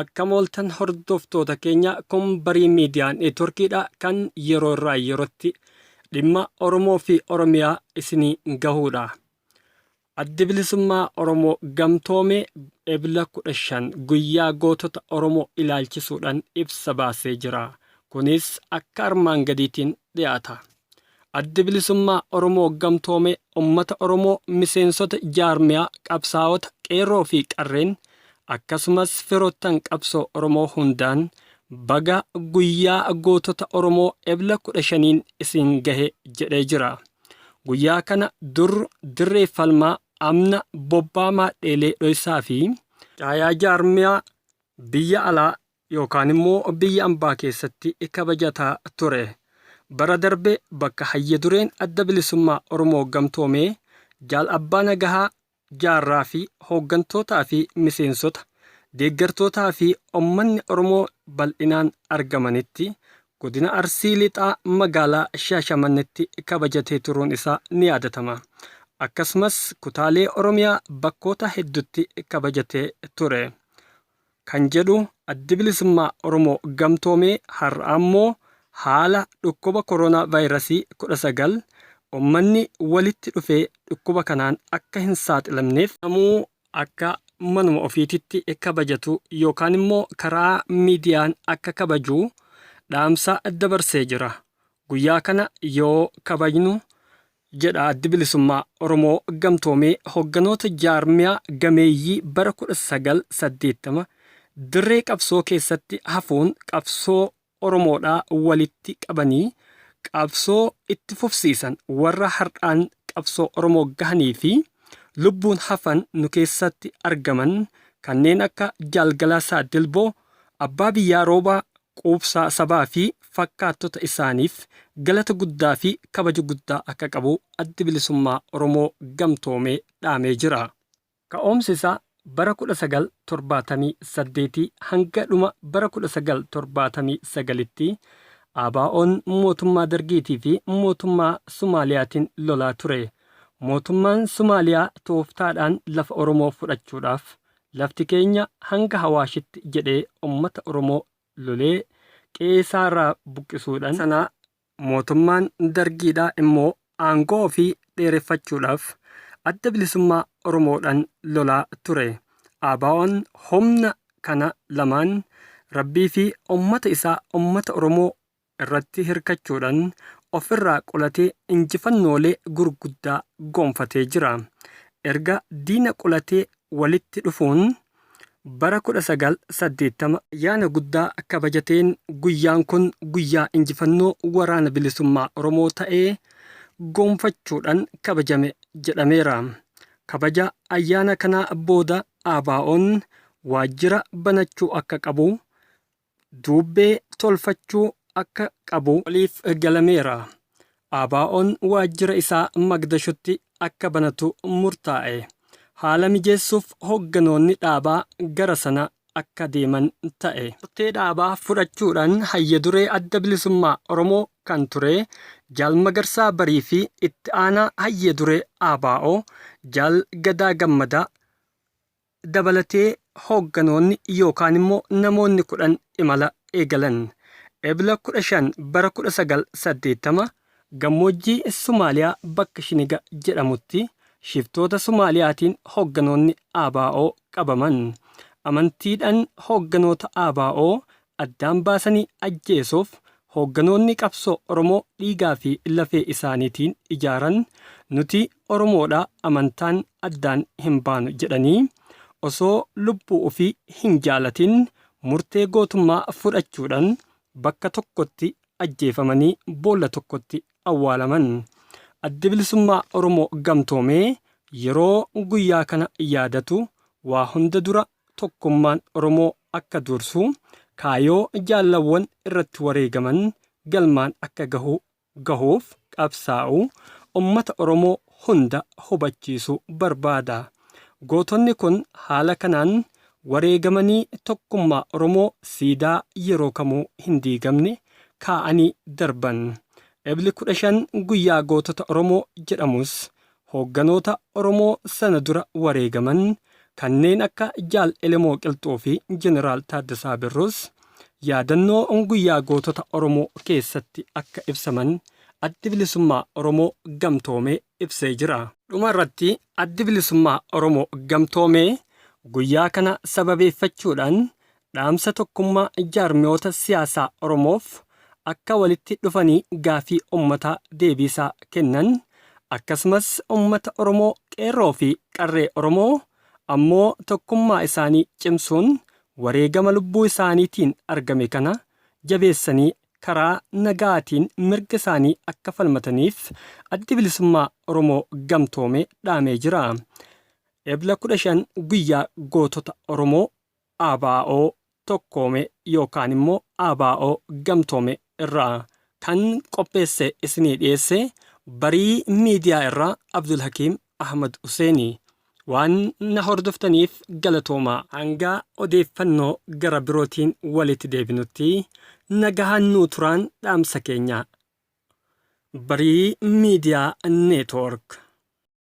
Akkam ooltan hordoftoota keenya kun barii miidiyaa neetworkiidha kan yeroo irraa yerootti dhimma Oromoo fi Oromiyaa isinii gahuudha. Addi bilisummaa Oromoo gamtoomee ebla 15 guyyaa gootota Oromoo ilaalchisuudhaan ibsa baasee jira. Kunis akka armaan gadiitiin dhiyaata. Addi Bilisummaa Oromoo Gamtoome ummata Oromoo miseensota jaarmiyaa, qabsaawota, qeerroo fi qarreen akkasumas firoottan qabsoo Oromoo hundaan baga guyyaa gootota Oromoo Ebla 15n isin gahe jedhee jira. Guyyaa kana dur dirree falmaa amna bobbaa maadheelee dhoysaa fi caayaa jaarmiyaa biyya alaa yookaan immoo biyya ambaa keessatti kabajataa ture. Bara darbe bakka Hayya Dureen Adda Bilisummaa Oromoo Gamtoomee Jaal Abbaa Nagahaa Jaarraa fi hooggantootaa fi miseensota, deeggartootaa fi ummanni Oromoo bal'inaan argamanitti Godina Arsii Lixaa Magaalaa Shaashamannetti kabajatee turuun isaa ni yaadatama. Akkasumas kutaalee Oromiyaa bakkoota heddutti kabajatee ture. kan jedhu Addi Bilisummaa Oromoo Gamtoome har'a ammoo haala dhukkuba koroonaa vaayrasii 19 ummanni walitti dhufee dhukkuba kanaan akka hin saaxilamneef namuu akka manuma ofiititti kabajatu yookaan immoo karaa miidiyaan akka kabaju dhaamsa dabarsee jira. Guyyaa kana yoo kabajnu jedha Addi Bilisummaa Oromoo Gamtoomee hogganoota jaarmiyaa gameeyyii bara 1980 dirree qabsoo keessatti hafuun qabsoo Oromoodhaa walitti qabanii qabsoo itti fufsiisan warra har'aan qabsoo Oromoo gahanii fi lubbuun hafan nu keessatti argaman kanneen akka Jaal Galaasaa Dilboo, Abbaa Biyyaa Roobaa, quubsaa sabaa fi fakkaattota isaaniif galata guddaa fi kabaja guddaa akka qabu Addi Bilisummaa Oromoo Gamtoomee dhaamee jira. Ka'umsi isaa bara 1978 hanga dhuma bara 1979tti ABOn mootummaa Dargiitii fi mootummaa Sumaaliyaatiin lolaa ture. Mootummaan Sumaaliyaa tooftaadhaan lafa Oromoo fudhachuudhaaf Lafti keenya hanga Hawaashitti jedhee ummata Oromoo lolee qe'eesaarraa buqqisuudhan sana mootummaan Dargiidhaa immoo aangoo ofii dheereffachuudhaaf Adda Bilisummaa Oromoodhan lolaa ture. ABOn humna kana lamaan Rabbiifi ummata isaa ummata Oromoo irratti hirkachuudhan of irraa qulatee injifannoolee gurguddaa gonfatee jira. Erga diina qulatee walitti dhufuun bara 1980, ayyaana guddaa kabajateen guyyaan kun guyyaa injifannoo Waraana Bilisummaa Oromoo ta'ee gonfachuudhan kabajame jedhameera. Kabaja ayyaana kanaa booda ABOn waajjira banachuu akka qabu duubbee tolfachuu akka qabu waliif galameera. ABOn waajjira isaa Magdashotti akka banatu murtaa'e. Haala mijeessuuf hogganoonni dhaabaa gara sana akka deeman ta'e. Murtee dhaabaa fudhachuudhaan Hayya Duree Adda Bilisummaa Oromoo kan ture Jaal Magarsaa Barii fi Itti Aanaa Hayya Duree ABO Jaal Gadaa Gammadaa, dabalatee hoogganoonni yookaan immoo namoonni 10 imala eegalan. Ebla 15 bara 1980 gammoojjii Somaaliyaa bakka Shiniga jedhamutti shiftoota Somaaliyaatiin hoogganoonni ABO qabaman. Amantiidhaan hoogganoota ABO addaan baasanii ajjeesuuf hoogganoonni qabsoo Oromoo dhiigaa fi lafee isaaniitiin ijaaran nuti Oromoodha amantaan addaan hin baanu jedhanii osoo lubbuu ofii hin jaalatin murtee gootummaa fudhachuudhan bakka tokkotti ajjeefamanii boolla tokkotti awwaalaman. Addi Bilisummaa Oromoo Gamtoomee yeroo guyyaa kana yaadatu waa hunda dura tokkummaan Oromoo akka dursu, kaayoo jaallawwan irratti wareegaman galmaan akka gahu gahuuf qabsaa'u ummata Oromoo hunda hubachiisu barbaada. Gootonni kun haala kanaan wareegamanii tokkummaa Oromoo siidaa yeroo kamuu hin diigamne kaa'anii darban. Ebli 15 guyyaa gootota Oromoo jedhamus Hoogganoota Oromoo sana dura wareegaman kanneen akka Jaal Elemoo Qilxuu fi Jeneraal Taaddasaa Birruus yaadannoo Guyyaa Gootota Oromoo keessatti akka ibsaman Addi Bilisummaa Oromoo Gamtoomee ibsee jira. Dhuma irratti Addi Bilisummaa Oromoo Gamtoomee guyyaa kana sababeeffachuudhaan Dhaamsa tokkummaa jaarmiyoota siyaasaa Oromoof akka walitti dhufanii gaafii ummataa deebiisaa kennan akkasumas ummata Oromoo qeerroo fi qarree Oromoo ammoo tokkummaa isaanii cimsuun wareegama lubbuu isaaniitiin argame kana jabeessanii karaa nagaatiin mirga isaanii akka falmataniif Addi Bilisummaa Oromoo Gamtoome dhaamee jira. Ebla 15 Guyyaa Gootota Oromoo ABO tokkoome yookaan immoo ABO gamtoome irraa kan qopheesse isinii dhiyeesse Barii Miidiyaa irraa Abdulhakiim Ahmad Huseeni. Waan na hordoftaniif galatoomaa. Hanga odeeffannoo gara birootiin walitti deebinutti nagahaan nuu turaan dhaamsa keenya. Barii Miidiyaa Neetwoork.